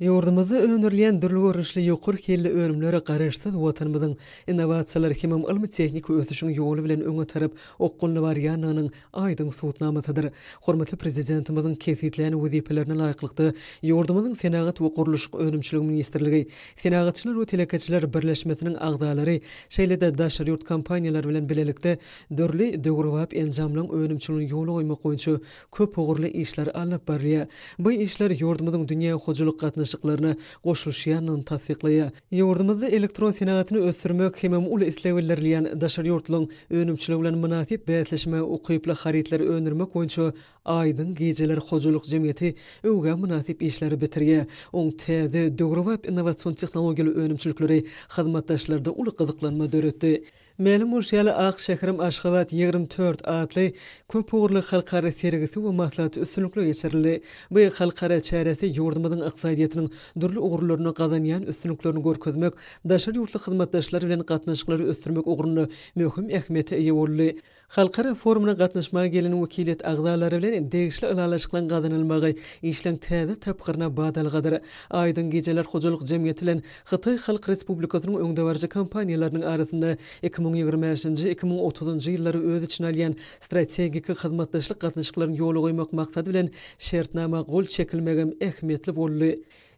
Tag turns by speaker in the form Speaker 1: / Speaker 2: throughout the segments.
Speaker 1: Ýurdumyzda öndürilýän dürli görnüşli ýokary hilli önümler Garaşsyz Watanymyzyň innowasiýalar hemem ylmy-tehniki ösüşiň ýoly bilen öňe tarap okgunly barýandygynyň aýdyň subutnamasydyr. Hormatly Prezidentimiziň kesgitlän wezipelerine laýyklykda, ýurdumyzyň Senagat we gurluşyk önümçiligi ministrligi, Senagatçylar we telekeçiler birleşmesiniň agzalary, şeýle-de daşary ýurt kompaniýalary bilen bilelikde dürli döwrebap enjamlaryň önümçiligini ýola goýmak boýunça köp ugurly işler alnyp barylýar. Bu işler ýurdumyzyň dünýä hojalyk gatnaşyklaryna goşulyşýandygyny tassyklaýar. Ýurdumyzda elektron senagatyny ösdürmek hemem uly isleg bildirilýän daşary ýurtlaryň önümçiligi bilen mynasyp bäsleşmä ukyply harytlary öndürmek boýunça Aýdyň gijeler hojalyk jemgyýeti öwgä mynasyp işleri bitirýär. Oň täze, döwrebap innowasion tehnologiýaly önümçilikleri hyzmatdaşlarda uly gyzyklanma döretdi. Mälim bolşy ýaly, Ak şäherim Aşgabat ýigrimi dört atly köp ugurly halkara sergisi we maslahaty üstünlikli geçirildi. Bu halkara çäresi ýurdumyzyň ykdysadyýetiniň dürli ugurlarynda gazanýan üstünliklerini görkezmek, daşary ýurtly hyzmatdaşlar bilen gatnaşyklary ösdürmek ugrunda möhüm ähmiýete eýe boldy. Halkara forumyna gatnaşmaga gelen wekiliýet agzalary bilen degişli ylalaşyklaryň gazanylmagy işleň täze tapgyryna badalgadyr. Aýdyň gejeler hojalyk jemgyýeti bilen Hytaý Halk Respublikasynyň öňdebaryjy kompaniýalarynyň arasynda iki müň ýigrimi bäşinji, iki müň otuzynjy ýyllary öz içine alýan strategik hyzmatdaşlyk gatnaşyklaryny ýola goýmak maksady bilen şertnama gol çekilmegem ähmiýetli boldy.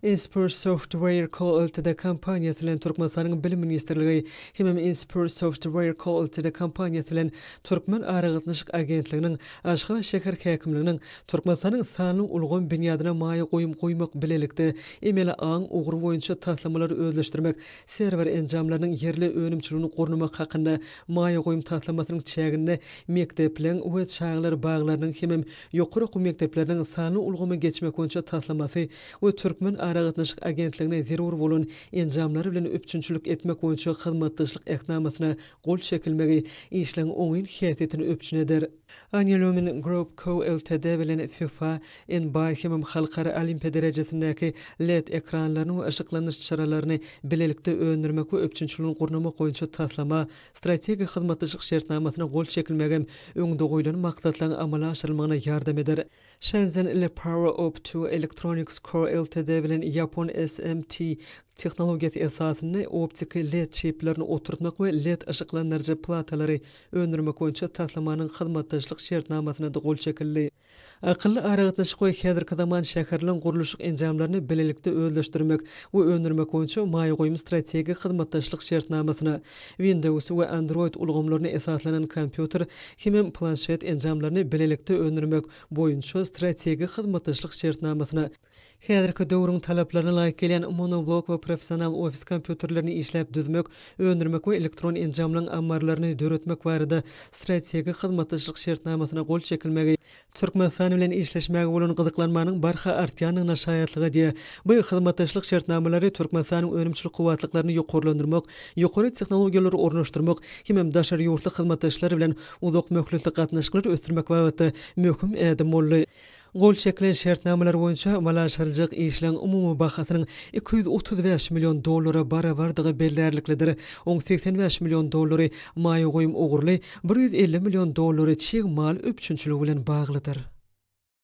Speaker 1: Inspur Software Co. Ltd. kompaniýasy bilen Türkmenistanyň Bilim ministrligi hemem Inspur Software Co. Ltd. kompaniýasy bilen Türkmen aragatnaşyk agentliginiň, Aşgabat şäher häkimliginiň, Türkmenistanyň sanly ulgam binýadyna maýa goýum goýmak bilelikde emeli aň ugry boýunça taslamalary özleşdirmek, serwer enjamlarynyň ýerli önümçiligini gurnamak hakynda maýa goýum taslamasynyň çäginde mekdepleriň we çagalar baglarynyň hemem ýokary okuw mekdepleriniň sanly ulgama geçmek boýunça taslamasy we Türkmen aragatnaşyk agentligine zerur bolan enjamlar bilen üpjünçilik etmek boýunça hyzmatdaşlyk Ähtnamasyna gol çekilmegi işleň oňyn häsiýetini üpjün eder. Angelomyn Group Co. Ltd. bilen fifa, nba hemem Halkara Olimpiýa derejesindäki led ekranlaryny we yşyklandyryş çyralaryny bilelikde öndürmek we üpjünçiligini gurnamak boýunça taslama, strategik hyzmatdaşlyk şertnamasyna gol çekilmegem öňde goýlan maksatlaryň amala aşyrylmagyna ýardam eder. Shenzhen ile Power of Two Electronics Co. Ltd. Bilen ýapon SMT tehnologiýasy esasynda optiki led çiplerini oturtmak we led yşyklandyryjy platalary öndürmek boýunça taslamanyň hyzmatdaşlyk şertnamasyna-da gol çekildi. Akylly aragatnaşyk we häzirki zaman şäherleň gurluşyk enjamlaryny bilelikde özleşdirmek we öndürmek boýunça maýa goýum strategik hyzmatdaşlyk şertnamasyna, Windows we Android ulgamlaryna esaslanan kompýuter hemem planşet enjamlaryny bilelikde öndürmek boýunça strategik hyzmatdaşlyk şertnamasyna, häzirki döwrüň talaplaryna laýyk gelýän monoblok we professional ofis kompýuterlerini işläp düzmek, öndürmek we elektron enjamlaryň ammarlaryny döretmek barada strategik hyzmatdaşlyk şertnamasyna gol çekilmegi. Türkmenistan bilen işleşmäge bolan gyzyklanmanyň barha artýandygyna şaýatlyk edýär. Bu hyzmatdaşlyk şertnamalary Türkmenistanyň önümçilik kuwwatlyklaryny ýokarlandyrmak, ýokary tehnologiýalary ornaşdyrmak hemem daşary ýurtly hyzmatdaşlar bilen uzak möhletli gatnaşyklary ösdürmek babatda möhüm ädim boldy. Gol çekilen şertnamalar boýunça amalaşyryljak işleň umumy bahasynyň iki ýüz otuz bäş million dollara barabardygy bellärliklidir, oň segsen bäş million dollary maýa goýum ugurly, Bir ýüz elli million dollary çig mal üpjünçiligi bilen baglydyr.